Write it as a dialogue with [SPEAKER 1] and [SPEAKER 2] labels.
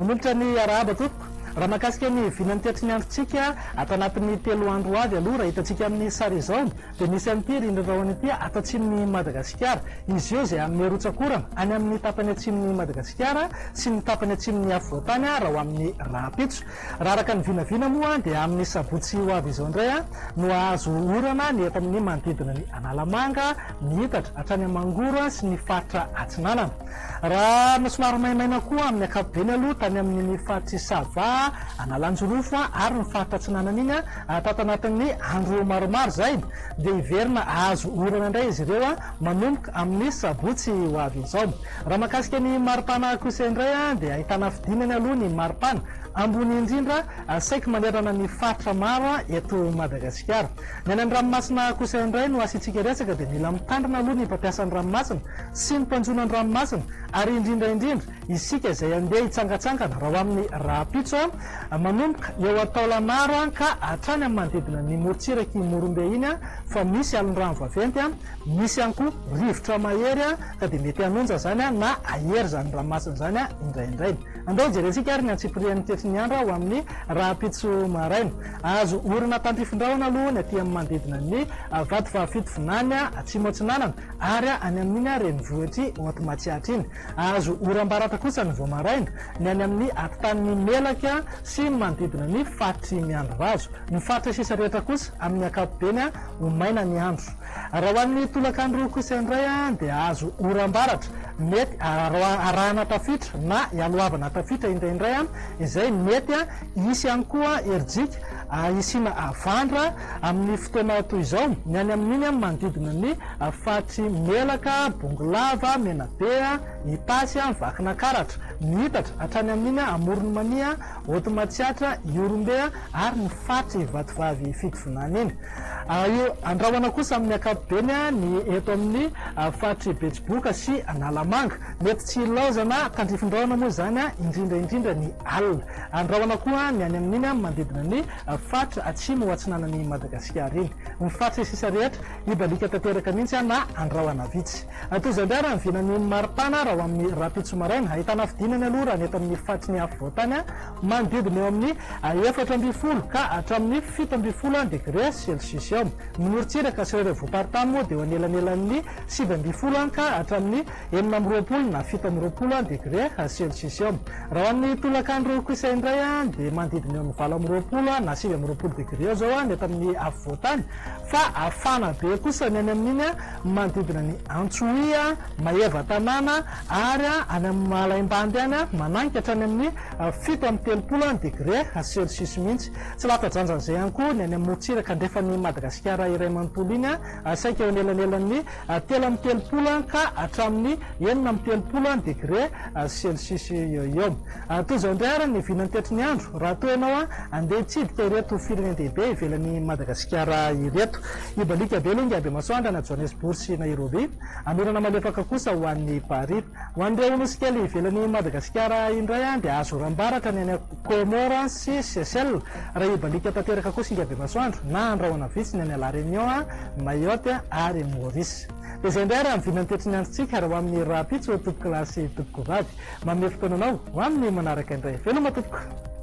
[SPEAKER 1] Manolotra ny arahaba tompoko. Raha makasika ny vinan'ny teatry ny androntsika, ato anatin'ny telo andro ho avy aloha, raha hitantsika amin'ny sary izao, Dia nisy an'ity rindrin-drahona ity ato atsimon'i Madagasikara. Izy io izay hanome rotsak'orana any amin'ny tapany atsimon'i Madagasikara sy ny tapany atsimon'ny afovoantany raha ho amin'ny rahampitso. Raha araka ny vinavina moa dia amin'ny sabotsy ho avy izao indray no hahazo orana ny eto amin'ny manodidina ny Analamanga, ny Itatra, hatrany Amangoro sy ny faritra Atsinanana. Raha somary maimaina koa amin'ny ankapobeny aloha tany amin'iny faritr'i Sava, Analanjirofo ary ny faritra atsinanana iny, tato anatin'ny andro maromaro izay dia hiverina hahazo orana indray izy ireo manomboka amin'ny sabotsy ho avy izao. Raha mahakasika ny maripana kosa indray dia ahitana fidinany aloha ny maripana ambony indrindra saiky manerana ny faritra maro eto Madagasikara. Ny any amin'ny ranomasina kosa indray no asiantsika resaka dia mila mitandrina aloha ny mpampiasa ny ranomasina sy ny mpanjono ny ranomasina ary indrindra indrindra isika izay andeha hitsangatsangana raha ho amin'ny rahampitso manomboka eo an-taolanaro ka hatrany amin'ny manodidina ny morontsirak'i Ihorombe iny fa misy alin-drano vaventy misy ihany koa rivotra mahery ka dia mety hanonja izany na hahery izany ranomasina izany indraindray. Andeha hojerentsika ary ny antsipirian'ny tetrin'ny andro ho amin'ny rahampitso maraina. Azo orina tandrifin-drahona aloha ny aty amin'ny manodidina ny Vatovavy-Fitovinany Atsimo Atsinanana ary any amin'iny renivohitr'i Haute Matsiatra iny. Azo oram-baratra kosa ny vao maraina ny any amin'ny atitan'ny Melaky sy ny manodidina ny faritr'i Miandrivazo. Ny faritra sisa rehetra kosa amin'ny ankapobeny ho maina ny andro. Raha ho an'ny tolakandro kosa indray dia azo oram-baratra mety arahana tafita na ialohavana tafita indraindray izay mety Hisy ihany koa herijika hisiana havandra amin'ny fotoana toy izao, ny any amin'iny manodidina ny faritry Melaka, Bongolava, Menabe, Itasy, Vakinakaratra, Mihitatra, hatrany amin'iny Amoron'i Mania, Haute Matsiatra, Ihorombe ary ny faritry Ivatovavy Fidivinana iny. Andrahona kosa amin'ny ankapobeny ny eto amin'ny faritry Betsiboka sy Analamanga. Mety tsy hilaozana tandrifin-drahona moa izany indrindra indrindra ny alina. Andrahona koa ny any amin'iny manodidina ny faritra atsimo ho atsinanan'i Madagasikara iny. Ny faritra sisa rehetra hibaliaka tanteraka mihitsy na andrahona vitsy. Toy izao indray raha ny vinan'ny maripana raha ho amin'ny rahampitso maraina. Ahitana fidinany aloha raha ny eto amin'ny faritry ny afovoantany manodidina eo amin'ny efatra ambin'ny folo ka hatramin'ny fito ambin'ny folo degre celsius eo. Ny morontsiraka sy ireo revomparitany moa dia eo anelanelan'ny sivy ambin'ny folo ka hatramin'ny enina amby roapolo na fito amby roapolo degre celcius eo. Raha ho an'ny tolakandro kosa indray dia manodidina eo amin'ny valo amby roapolo na sivy amby roapolo degre eo izao ny eto amin'ny afovoantany fa hafana be kosa ny any amin'iny manodidina ny Antsohihy, Maevatanàna ary any amin'ny Malaimbandy any managika hatrany amin'ny fito amby telopolo degre celcius mihitsy. Tsy lavitra drandrana izay ihany koa ny any amin'ny morontsiraka andrefan'i Madagasikara iray manontolo iny saika eo anelanelan'ny telo amby telopolo ka hatramin'ny enina amby telopolo degre celsius eo ho eo. Toy izao indray àry ny vinantetry ny andro raha toa ianao handeha hitsidika ireto firenen-dehibe ivelan'i Madagasikara ireto. Hibaliaka be Linga, Bemasoandra na Johannesburg sy Nairobi. Hanorana malefaka kosa ho an'i Paris. Ho an'ireo nosy kely ivelan'i Madagasikara indray dia azo oram-baratra ny any Comores sy Seychelles, raha hibaliaka tanteraka kosa ingahy Bemasoandro, na handrahona vitsy ny any La Réunion, Mayotte ary Maurice. Dia izay indray ary ny vinan'ny toetry ny androntsika ary ho amin'ny rahampitso tompokolahy sy tompokovavy. Manome fotoana anao ho amin'ny manaraka indray. Veloma tompoko!